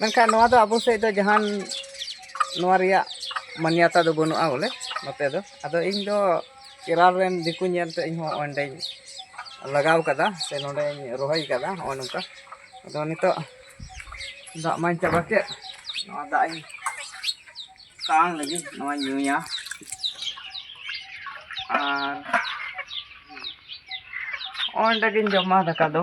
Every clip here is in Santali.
ᱢᱮᱱᱠᱷᱟᱱ ᱱᱚᱣᱟ ᱫᱚ ᱟᱵᱚ ᱥᱮᱫ ᱫᱚ ᱡᱟᱦᱟᱱ ᱱᱚᱣᱟ ᱨᱮᱭᱟᱜ ᱢᱟᱱᱭᱟᱛᱟ ᱫᱚ ᱵᱟᱹᱱᱩᱜᱼᱟ ᱵᱚᱞᱮ ᱱᱚᱛᱮ ᱫᱚ ᱟᱫᱚ ᱤᱧ ᱫᱚ ᱠᱮᱨᱟᱞ ᱨᱮᱱ ᱫᱤᱠᱩ ᱧᱮᱞᱛᱮ ᱤᱧ ᱦᱚᱸ ᱚᱸᱰᱮᱧ ᱞᱟᱜᱟᱣ ᱠᱟᱫᱟ ᱥᱮ ᱱᱚᱸᱰᱮᱧ ᱨᱚᱦᱚᱭ ᱠᱟᱫᱟ ᱱᱚᱜᱼᱚ ᱱᱚᱝᱠᱟ ᱟᱫᱚ ᱱᱤᱛᱚᱜ ᱫᱟᱜ ᱢᱟᱧ ᱪᱟᱵᱟ ᱠᱮᱫ ᱱᱚᱣᱟ ᱫᱟᱜ ᱤᱧ ᱛᱟᱝ ᱞᱟᱹᱜᱤᱫ ᱱᱚᱣᱟᱧ ᱧᱩᱭᱟ ᱟᱨ ᱚᱸᱰᱮ ᱜᱤᱧ ᱡᱚᱢᱟ ᱫᱟᱠᱟ ᱫᱚ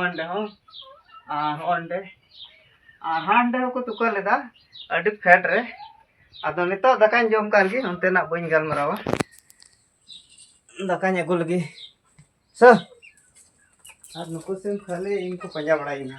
ᱚᱸᱰᱮ ᱦᱚᱸ ᱟᱨ ᱚᱸᱰᱮ ᱟᱨ ᱦᱟᱸᱰᱮ ᱦᱚᱸᱠᱚ ᱛᱩᱠᱟᱹ ᱞᱮᱫᱟ ᱟᱹᱰᱤ ᱯᱷᱮᱰ ᱨᱮ ᱟᱫᱚ ᱱᱤᱛᱚᱜ ᱫᱟᱠᱟᱧ ᱡᱚᱢ ᱠᱟᱱ ᱜᱮ ᱚᱱᱛᱮᱱᱟᱜ ᱵᱟᱹᱧ ᱜᱟᱞᱢᱟᱨᱟᱣᱟ ᱫᱟᱠᱟᱧ ᱟᱹᱜᱩ ᱞᱮᱜᱮ ᱥᱮ ᱟᱨ ᱱᱩᱠᱩ ᱥᱤᱢ ᱠᱷᱟᱹᱞᱤ ᱤᱧ ᱠᱚ ᱯᱟᱸᱡᱟ ᱵᱟᱲᱟᱭᱤᱧᱟ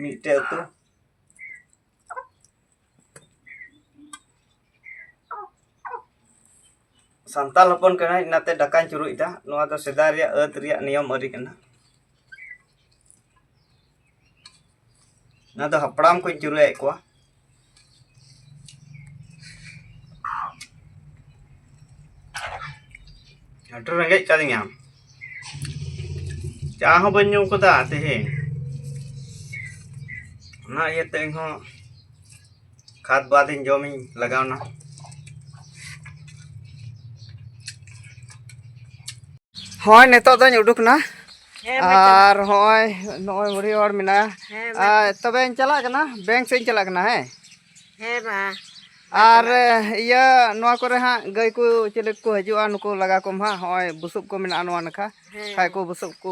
ᱢᱤᱫᱴᱮᱡ ᱟᱹᱛᱩ ᱥᱟᱱᱛᱟᱞ ᱦᱚᱯᱚᱱ ᱠᱟᱱᱟᱭ ᱚᱱᱟᱛᱮ ᱰᱟᱠᱟᱧ ᱪᱩᱨᱩᱡᱫᱟ ᱱᱚᱣᱟ ᱫᱚ ᱥᱮᱫᱟᱭ ᱨᱮᱭᱟᱜ ᱟᱹᱛ ᱨᱮᱭᱟᱜ ᱱᱤᱭᱚᱢ ᱟᱹᱨᱤ ᱠᱟᱱᱟ ᱚᱱᱟ ᱫᱚ ᱦᱟᱯᱲᱟᱢ ᱠᱚᱧ ᱪᱩᱨᱩᱡᱮᱫ ᱠᱚᱣᱟ ᱟᱹᱰᱤ ᱨᱮᱸᱜᱮᱡ ᱠᱟᱫᱤᱧᱟ ᱪᱟ ᱦᱚᱸ ᱵᱟᱹᱧ ᱧᱩ ᱠᱟᱫᱟ ᱛᱮᱦᱮᱧ ᱚᱱᱟ ᱤᱭᱟᱹᱛᱮ ᱤᱧᱦᱚᱸ ᱠᱷᱟᱫ ᱵᱟᱫᱤᱧ ᱡᱚᱢᱤᱧ ᱞᱟᱜᱟᱣᱱᱟ ᱦᱳᱭ ᱱᱤᱛᱚᱜ ᱫᱚᱧ ᱩᱰᱩᱠᱱᱟ ᱟᱨ ᱦᱚᱸᱜᱼᱚᱭ ᱱᱚᱜᱼᱚᱭ ᱵᱩᱲᱦᱤ ᱦᱚᱲ ᱢᱮᱱᱟᱭᱟ ᱟᱨ ᱛᱚᱵᱮᱧ ᱪᱟᱞᱟᱜ ᱠᱟᱱᱟ ᱵᱮᱝᱠ ᱥᱮᱫ ᱤᱧ ᱪᱟᱞᱟᱜ ᱠᱟᱱᱟ ᱦᱮᱸ ᱦᱮᱸ ᱢᱟ ᱟᱨ ᱤᱭᱟᱹ ᱱᱚᱣᱟ ᱠᱚᱨᱮ ᱦᱟᱸᱜ ᱜᱟᱹᱭ ᱠᱚ ᱪᱤᱞᱤ ᱠᱚ ᱦᱤᱡᱩᱜᱼᱟ ᱱᱩᱠᱩ ᱞᱟᱜᱟ ᱠᱚᱢ ᱦᱟᱸᱜ ᱦᱚᱸᱜᱼᱚᱭ ᱵᱩᱥᱩᱵ ᱠᱚ ᱢᱮᱱᱟᱜᱼᱟ ᱱᱚᱣᱟ ᱱᱟᱠᱷᱟ ᱠᱷᱟᱡ ᱠᱚ ᱵᱩᱥᱩᱵ ᱠᱚ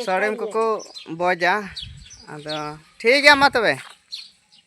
ᱥᱟᱹᱲᱤᱢ ᱠᱚᱠᱚ ᱵᱚᱡᱟ ᱟᱫᱚ ᱴᱷᱤᱠ ᱜᱮᱭᱟ ᱢᱟ ᱛᱚᱵᱮ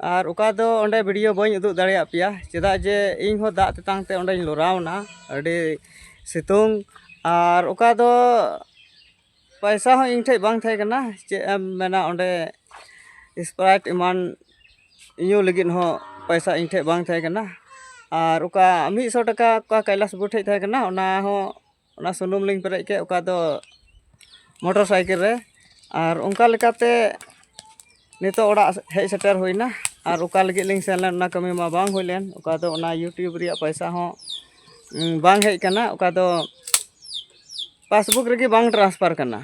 ᱟᱨ ᱚᱠᱟ ᱫᱚ ᱚᱸᱰᱮ ᱵᱷᱤᱰᱭᱳ ᱵᱟᱹᱧ ᱩᱫᱩᱜ ᱫᱟᱲᱮᱭᱟᱜ ᱯᱮᱭᱟ ᱪᱮᱫᱟᱜ ᱡᱮ ᱤᱧ ᱦᱚᱸ ᱫᱟᱜ ᱛᱮᱛᱟᱝ ᱛᱮ ᱚᱸᱰᱮᱧ ᱞᱚᱨᱟᱣ ᱮᱱᱟ ᱟᱹᱰᱤ ᱥᱤᱛᱩᱝ ᱟᱨ ᱚᱠᱟ ᱫᱚ ᱯᱚᱭᱥᱟ ᱦᱚᱸ ᱤᱧ ᱴᱷᱮᱱ ᱵᱟᱝ ᱛᱟᱦᱮᱸ ᱠᱟᱱᱟ ᱪᱮᱫ ᱮᱢ ᱢᱮᱱᱟ ᱚᱸᱰᱮ ᱥᱯᱨᱟᱭᱤᱴ ᱮᱢᱟᱱ ᱧᱩ ᱞᱟᱹᱜᱤᱫ ᱦᱚᱸ ᱯᱚᱭᱥᱟ ᱤᱧ ᱴᱷᱮᱱ ᱵᱟᱝ ᱛᱟᱦᱮᱸ ᱠᱟᱱᱟ ᱟᱨ ᱚᱠᱟ ᱢᱤᱫ ᱥᱚ ᱴᱟᱠᱟ ᱚᱠᱟ ᱠᱟᱭᱞᱟᱥ ᱵᱟᱹᱵᱩ ᱴᱷᱮᱱ ᱛᱟᱦᱮᱸ ᱠᱟᱱᱟ ᱚᱱᱟ ᱦᱚᱸ ᱚᱱᱟ ᱥᱩᱱᱩᱢ ᱞᱤᱧ ᱯᱮᱨᱮᱡ ᱠᱮᱫ ᱚᱠᱟ ᱫᱚ ᱢᱚᱴᱚᱨ ᱥᱟᱭᱠᱮᱞ ᱨᱮ ᱟᱨ ᱚᱱᱠᱟ ᱞᱮᱠᱟᱛᱮ ᱱᱤᱛᱚᱜ ᱚᱲᱟᱜ ᱦᱮᱡ ᱥᱮᱴᱮᱨ ᱦᱩᱭᱱᱟ ᱟᱨ ᱚᱠᱟ ᱞᱟᱹᱜᱤᱫ ᱞᱤᱧ ᱥᱮᱱ ᱞᱮᱱ ᱚᱱᱟ ᱠᱟᱹᱢᱤ ᱢᱟ ᱵᱟᱝ ᱦᱩᱭ ᱞᱮᱱ ᱚᱠᱟ ᱫᱚ ᱚᱱᱟ ᱤᱭᱩᱴᱩᱵᱽ ᱨᱮᱭᱟᱜ ᱯᱚᱭᱥᱟ ᱦᱚᱸ ᱵᱟᱝ ᱦᱮᱡ ᱠᱟᱱᱟ ᱚᱠᱟ ᱫᱚ ᱯᱟᱥᱵᱩᱠ ᱨᱮᱜᱮ ᱵᱟᱝ ᱴᱨᱟᱱᱥᱯᱷᱟᱨ ᱠᱟᱱᱟ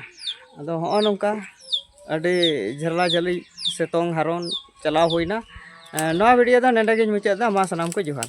ᱟᱫᱚ ᱦᱚᱸᱜᱼᱚ ᱱᱚᱝᱠᱟ ᱟᱹᱰᱤ ᱡᱷᱟᱞᱟ ᱡᱷᱟᱹᱞᱤ ᱥᱤᱛᱩᱝ ᱦᱟᱨᱚᱱ ᱪᱟᱞᱟᱣ ᱦᱩᱭᱱᱟ ᱱᱚᱣᱟ ᱵᱷᱤᱰᱭᱳ ᱫᱚ ᱱᱚᱰᱮ ᱜᱤᱧ ᱢᱩᱪᱟᱹᱫ ᱮᱫᱟ ᱢᱟ ᱥᱟᱱᱟᱢ ᱠᱚ ᱡᱚᱦᱟᱨ